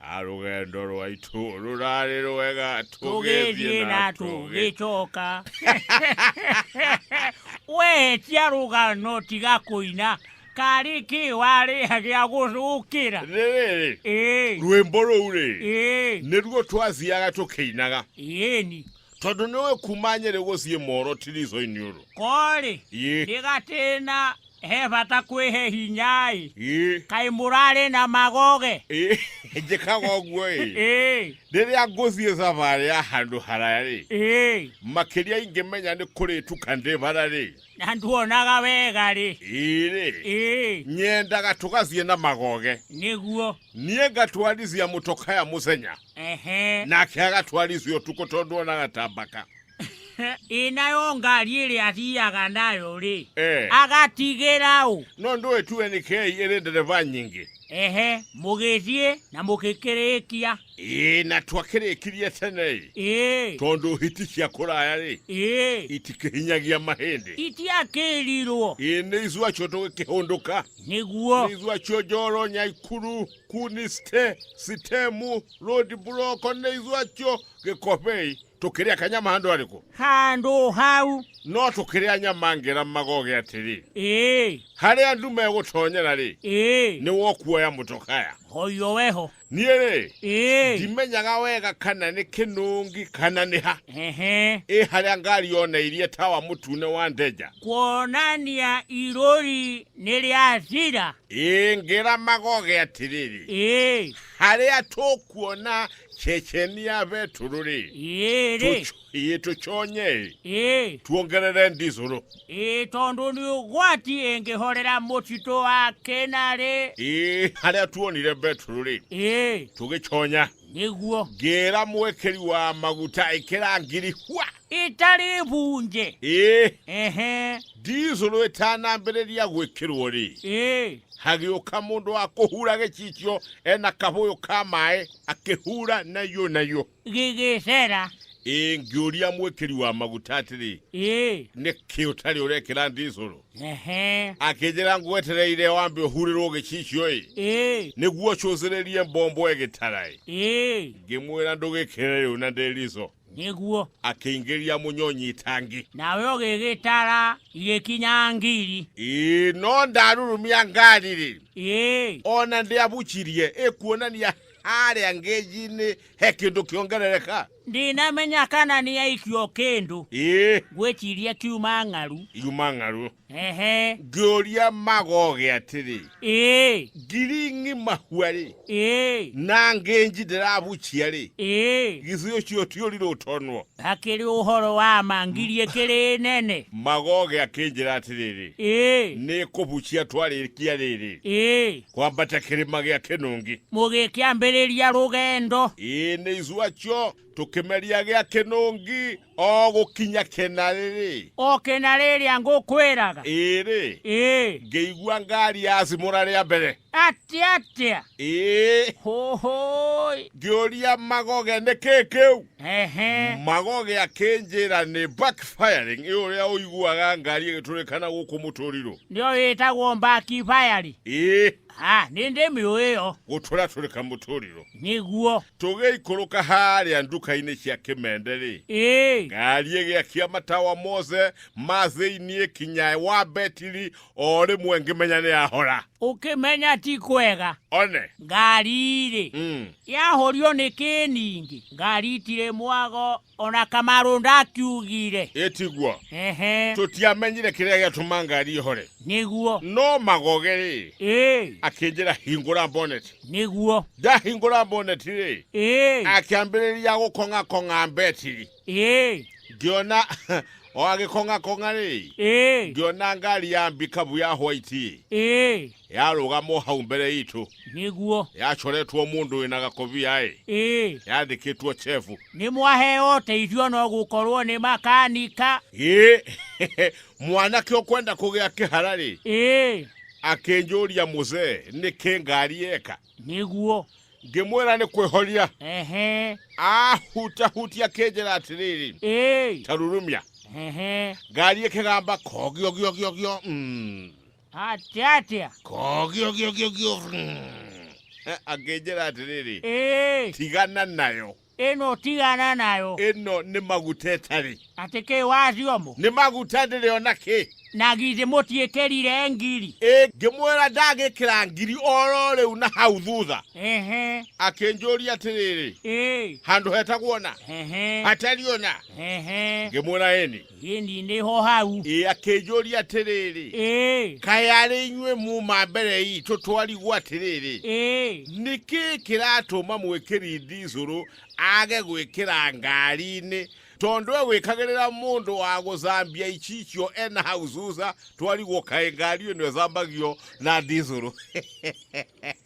Ah, rũgendo rwaitũ rũrarĩ rwega tũgĩthiĩ na tũgĩcoka wehetia rũgano tiga kũina karĩ kĩ warĩha gĩa gũcũkĩra rĩrĩ ĩĩ rwĩmbo rũu rĩ ĩĩ nĩruo twathiaga tũkĩinaga ĩĩni tondũ nĩ ũĩ kuma nyerĩ gũciĩ moro tirico-inĩ ũrũ korĩ Ĩ. ndĩgatĩna he bata kwĩhe hinya-ĩ Ĩ, kaĩ mũrarĩ na magoge ĩ, njĩkaga ũguo ĩ ĩ rĩrĩa ngũthiĩ thabarĩ ya handũ haraya rĩ ĩ makĩria ingĩmenya nĩ kũrĩtuka ndĩ bara rĩ na nduonaga wega rĩ ĩrĩ ĩ nyendaga tũgathiĩ na magoge nĩguo niĩ ngatwarithia mũtokaya mũthenya ehe nake agatwarithio tukũ tondũ onaga ta mbaka ĩ nayo ngari ĩrĩa athiaga nayo rĩ Eh. agatigĩra ũ no ndũĩ tuwe nĩ kei ĩrĩ ndereba nyingĩ ehe mũgĩthiĩ na mũgĩkĩrĩkia ĩĩ na twakĩrĩkirie tene ĩ ĩĩ tondũ hiti cia kũraya rĩ ĩĩ itikĩhinyagia mahĩndĩ itiakĩrirwo ĩĩ nĩ ithuacio tũgĩkĩhũndũka nĩguo nĩ ithuacio njoro nyaikuru kuni sithe sithemu lodi buloko neizwacho gekhopei tokeria kanyama hando aliko hando hau no tokeria nyama ngera magoge atiri ee hare andu meguthonyera ri ee ni wokuoya mutokaya hoyo weho niere ee ndimenyaga wega kana ni kinungi kana ni ha ehe ĩ harĩa ngari yoneirie tawa mũtune wa ndeja kuonania irori nĩ rĩathira ingĩra magoge atĩrĩrĩ ĩĩ harĩa tũkuona cecenia betũrũ-rĩ ĩĩ rĩ tũc- ĩĩ tũconye-ĩ ĩĩ tuongerere ndicũrũ ĩĩ tondũ nĩ ũgwati ĩngĩhorera mũtitũ wa kĩna rĩ ĩĩ harĩa tuonire betũrũ-rĩ ĩĩ tũgĩconya Nĩguo. Ngĩĩra mwĩkĩri wa maguta ĩkĩra ngiri hua. Itarĩ bunje. Ĩĩ. Ehe. Ndizũrũ ĩtanambĩrĩria gwĩkĩrwo-rĩ. Ĩĩ. Hagĩũka mũndũ wa kũhura gĩcicio e na kabũyũ ka maĩ akĩhura naiyo naiyo. Gĩgĩcera. Ĩĩ. Ngĩũria mwĩkĩri wa maguta atĩrĩ. Ĩĩ. Nĩkĩ ũtarĩ ũrekĩra ndizũrũ? Ehe. akĩnjĩra ngwetereire wambe ũhurĩrwo gĩcicio-ĩ Ĩĩ. nĩguo cũcĩrĩrie mbombo ĩgĩtara-ĩ Ĩĩ. ngĩmwĩra ndũgĩkĩre rĩu na ndĩrizo Nĩguo. akĩingĩria mũnyonyi itangi Nawe ũgĩgĩtara igĩkinya ngiri. ĩĩ no ndarurumia ngari-rĩ Ĩĩ. ona ndĩabucirie ĩkuonania harĩa ngĩnji-inĩ he kĩndũ kĩongerereka ndinamenya kana nĩ aikio kĩndũ ngwĩciria kiuma ng'aru iuma ng'aru ehe ngĩũria magoge atĩrĩ ĩĩ ngiri ng'ima hua-rĩ ĩĩ na ngĩnji ndĩrabucia-rĩ ĩĩ githĩ ũcio ti ũrirũ ũtonwo hakĩrĩ ũhoro wa ma ngiri ĩkĩrĩ nene magoge akĩnjĩra atĩrĩrĩ ĩĩ nĩ kũbucia twarĩkia rĩrĩ ĩĩ Kwambata kĩrĩma gĩa kĩnũngi. Mũgĩkĩambĩrĩria rũgendo. Ĩĩ nĩ icu acio tũkĩmeria gĩa kĩnũngi o gũkinya kĩna rĩrĩ. O kĩna rĩrĩa ngũkwĩraga. Ĩrĩ. Ĩĩ. Ngĩigua ngari ya cimũra rĩa mbere. Atĩa atĩa? Ĩĩ. Hũhũĩ. Ngĩũria magoge nĩ kĩĩ kĩu? Ehe. magoge akĩnjĩra nĩ backfiring ĩ ũrĩa ũiguaga ngari ĩgĩtũrĩkana gũkũ mũtũrirũ Nĩyo ĩtagwo mbaki bayari. ĩ Ah, nĩ ndĩmĩũĩ ĩyo. gũtũratũrĩka mũtũrirũ Nĩguo. tũgĩikũrũka harĩa nduka-inĩ cia kĩmende-rĩ Ĩĩ. ngari ĩgĩakia matawa mothe ma thĩinĩ kinya wa betiri o rĩmwe ngĩmenya nĩ yahora ũkĩmenya ti kwega one ngari-rĩ mm. yahũrio nĩ kĩningĩ ngari itirĩ mwago ona kamarũ ndakiugire ĩtiguo ehe tũtiamenyire kĩrĩa gĩatũma ngari ĩhore nĩguo no magoge rĩ ĩĩ akĩnjĩra hingũra boneti nĩguo ndahingũra boneti rĩ ĩĩ akĩambĩrĩria gũkong'akong'a mbetiri ĩĩ ngĩona o agĩkong'akong'a rĩ ĩĩ ngĩona ngari ya mbikabu ya hwaiti ĩĩ yarũgamo hau mbere itũ nĩguo yacoretwo mũndũ wĩna gakobia ĩ ĩĩ yandĩkĩtwo chefu nĩ mwaheo ũteithio no gũkorwo nĩ makanika ĩ mwanake ũkwenda kũgĩa kĩhara rĩ ĩĩ akĩnjũria mũzee nĩkĩ ngari eka nĩguo ngĩmwĩra nĩ kwĩhoria ehe ahutahutia kĩnjĩra atĩrĩrĩ ĩĩ tarurumia ehe ngari ĩkĩgamba kogiogiogiogio mm. atĩa atĩa kogiogiogiogio mm. Eh, akĩnjĩra atĩrĩrĩ ĩĩ tigana nayo Ĩno tigana nayo. Ĩno nĩ maguta ĩtarĩ. Atĩ kĩ wa thiomo. Nĩ maguta ndĩrĩ o na kĩ. Na githĩ mũtiĩkĩrire ngiri. Ĩ, ngĩmwĩra ndagĩkĩra ngiri o ro rĩu na hau thutha. Ehe. Akĩnjũria atĩrĩrĩ. Ĩ. Handũ hetagwo na. Ehe. Hatariĩ o na. Ehe. Ngĩmwĩra ĩni. Ĩni nĩ ho hau. Ĩ akĩnjũria atĩrĩrĩ, Ĩ. kaĩ arĩ inyuĩ muuma mbere itũ twarigwo atĩrĩrĩ, Ĩ. nĩ kĩĩ kĩratũma mwĩkĩri ndicũrũ age gwĩkĩra ngari-inĩ, tondũ egwĩkagĩrĩra mũndũ wa gũcambia icicio e na hau Susa, twarigwo kaĩ ngari ĩno ĩcambagio na ndicũrũ.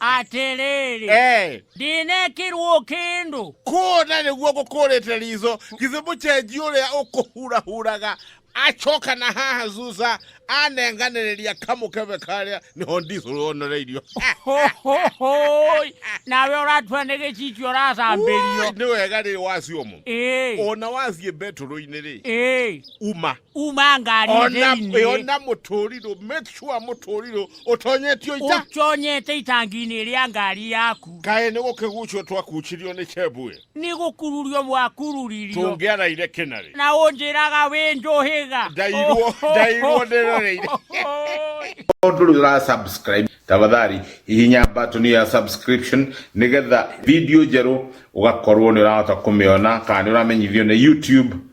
atĩrĩrĩ Eh, ndinekirwo kĩndũ kuona nĩguo gũkũrĩte ritho githĩ mũcenji ũrĩa ũkũhurahuraga acoka na haha zuza anenganĩrĩria kamũkebe karĩa nĩho ndicũrũ wonereirio Hohohoi, nawe ũratua nĩ gĩcicio Woi, ũracambĩrio nĩ wega rĩ wacio mũno Ĩĩ, ona wathiĩ mbetũrũ-inĩ rĩ ĩĩ, uma uma ngari ona thĩinĩ ona mũtũrirũ make sure mũtũrirũ ũtonyetio ita ũtonyete itangi-inĩ rĩa ngari yaku kaĩ nĩ gũkĩgucio twakucirio nĩ cebue nĩ gũkururio mwakururirio tũngĩaraire kĩnarĩ na ũnjĩraga wĩ njũhĩga ndairwo ndairwo ndĩroreire Mũndũ ũrĩa ũra subscribe tafadhali hihinya button ya subscription nĩgetha video njerũ ũgakorwo nĩ ũrahota kũmĩona kana nĩ ũramenyithio nĩ YouTube